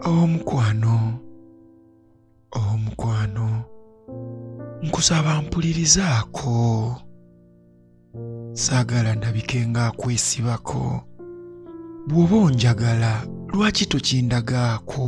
omukwano omukwano nkusaba mpulirizaako saagala ndabike ng'akwesibako bw'oba onjagala lwaki tokindagaako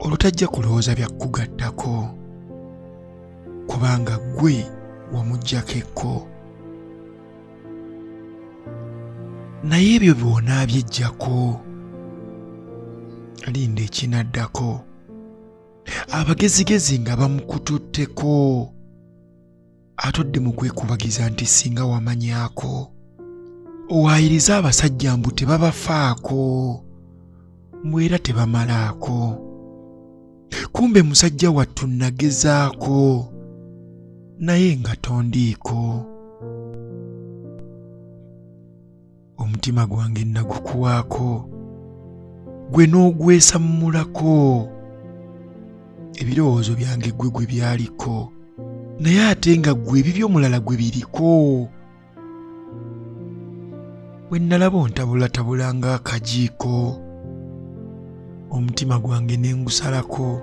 olutajja kulowooza bya kukugattako kubanga ggwe wamuggyako ekko naye ebyo byona byejjako linda ekinaddako abagezigezi nga bamukututteko atodde mu kwekubagiza nti singa wamanyaako owaayiriza abasajja mbu tebabafaako mbu era tebamalaako kumbe musajja wattu nagezaako naye nga tondiiko omutima gwange nagukuwaako gwe n'ogwesammulako ebirowoozo byange ggwe gwe byaliko naye ate nga ggwe ebibyo omulala gwe biriko bwe nnalaba ontabulatabula ng'akajiiko omutima gwange ne ngusalako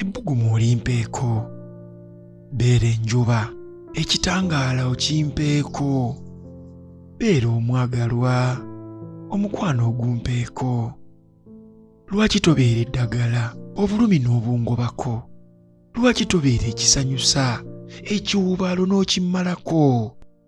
ebbugumu olimpeeko beera enjuba ekitangaala okimpeeko beera omwagalwa omukwano ogumpeeko lwaki tobeera eddagala obulumi n'obungobako lwaki tobeera ekisanyusa ekiwubaalo n'okimmalako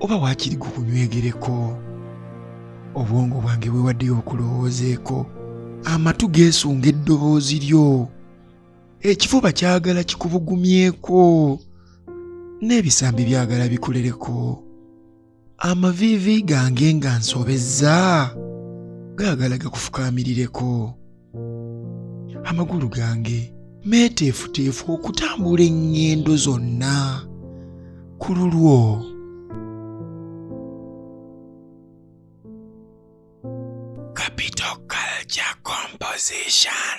oba waakiri gukunywegereko obwongo bwange bwewaddeyo okulowoozeeko amatu geesunga eddoboozi lyo ekifuba kyagala kikubugumyeko n'ebisambi byagala bikulereko amaviivi gange nga nsobezza gaagala gakufukaamirireko amagulu gange meeteefuteefu okutambula eŋŋendo zonna ku lulwo Capital Culture Composition